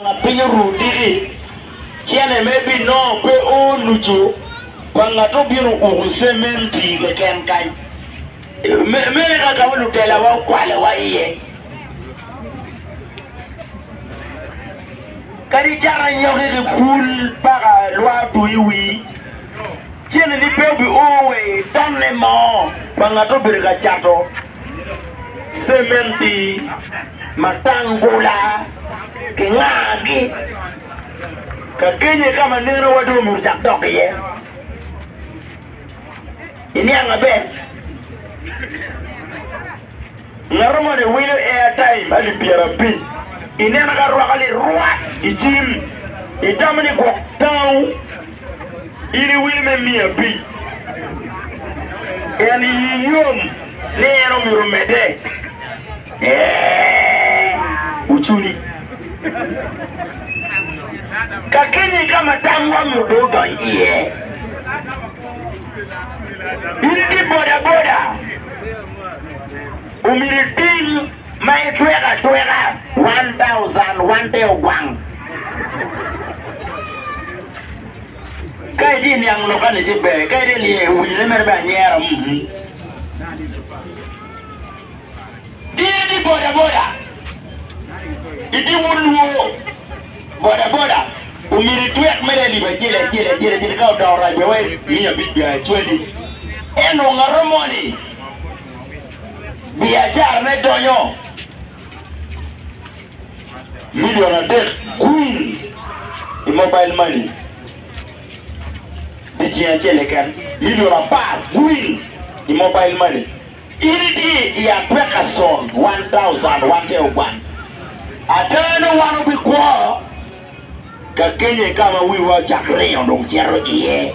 Lapiny oru diki, cene me bi nongo pe o nucu pa ngat obino uku cementi keken kany. Mene kaka wa lutelawa okwalewa iye. Kadi cato anyoki ki pul paka lwa otu iwi, cene ni pe obi o wa i tonne mo pa ngat obedo ka cato. cementi, matangula ki ngagi ka kenye ka ma neno wa dong omyero ocak dok iye iniang maber ngato moni wilo air time alip pyera abic ineno ka rwaka lirwak icim itamo ni gwok tango In iwili me miyo abic. En iyi yom ni en omyero omedde? Ee, ocuni. Kakeni ka ma tamwa myero obed odony iye. In itye bodaboda, omyero iting Ma itweko atweka one thousand one te ogwang. Ka itye niang lok kani ci ber, ka itye lye wine mere me anyera. Mm. Diye ni boda boda itye wun luo boda boda omyero itwek mere alip acel acel acel acel ka odoko rac wa wai miya abic bia cwadi eno ngato mo ni biacarane donyo milion adek kwing i mobile money dyeceng acel keken, milion apar kwing i mobile money. In itye i a pekason one thousand wan te ogwan. Ada ni wan obikwo ka kenye ka ma wiwa ocak ringo dong cito iye.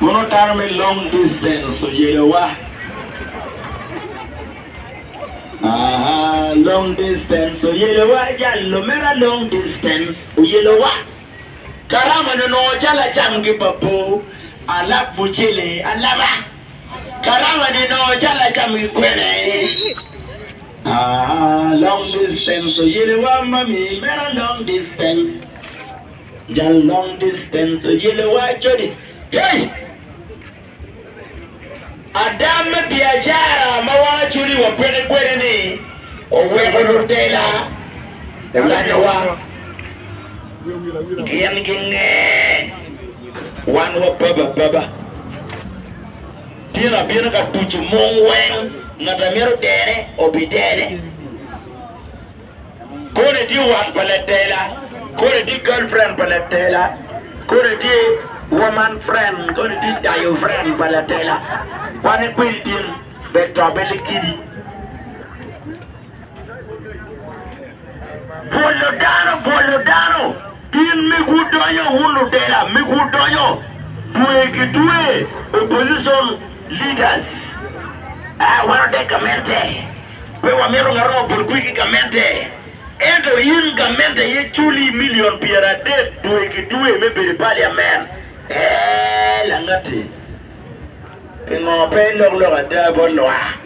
Mono dano me long distance oyelo wa. Aha, long distance oyelo wa, jal lumera long distance oyelo wa. Karama no nongo calo acam ki papo, alab mucele alaba. Karama ni nongo calo acam ki kwena e. Aha, long distance oyelo wa mami mera long distance. Jal long distance oyele waco ni, Hey! Ada me biacara ma wan aculi wapeke kwede-ni oweko lutela olanyowa gin ginge wan wabab ababa. Tyen abino ka tuco mung weng ngat a myero otere obitene. Kodi tye wat pa latela. Kodi tye girlfriend pa latela. Kodi tye woman friend. Kodi tye tayo friend pa latela. Kwane kwedi tin bet tobe likidi. Bwolo dano, bwolo dano. In mig wudonyo wun lutela, mig wudonyo dwe ki dwe opposition leaders. Ah, wan ote gamente. Pe wamito ngat mo obol kwi ki gamente. Ento in gamente aye culi milion pyeradek dwe ki dwe me bedo i paliamen. Ee, langatti. Pingo pe ilok lok ada bot lwak?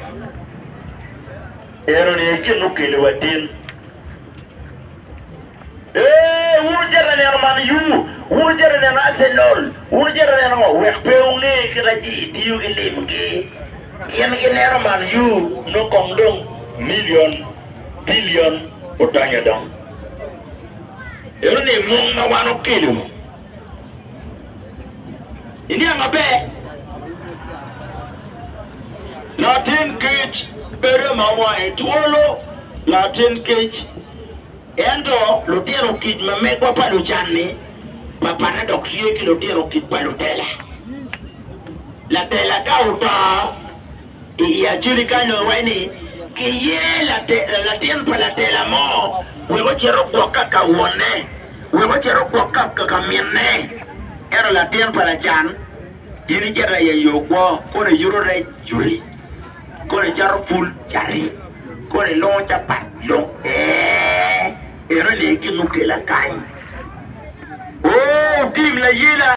Enoni aye gin mukeliwa tin. Ee, wun wucito ka neno Man U, wun wucito ka neno Arsenal, wun wucito ka neno ngo? Wek pe wunge kite ci itiyo ki limgi. Gin gineno Man U nongo kong dong milion, bilion odonyo dong. Ento ni mung ma wan okelo iniang maber, latin kic bedo ma wange twolo, latin kic. Ento lutino kic ma megwa pa lucan-ni papatte dok tye ki lutino kic pa lutela. Latela ka oto i i acoli kany dong iwaco ni kiye latin pa latela mo wek ocit ogwok ka ka wonne, wek ocit ogwok ka ka minne. Ento latin pa lacan in icito aye i ogwo kono iyuto rec yuti. Kore cato pul cati, kore longo capat lok ee, eno ni gin mukela kany, oo tim layela.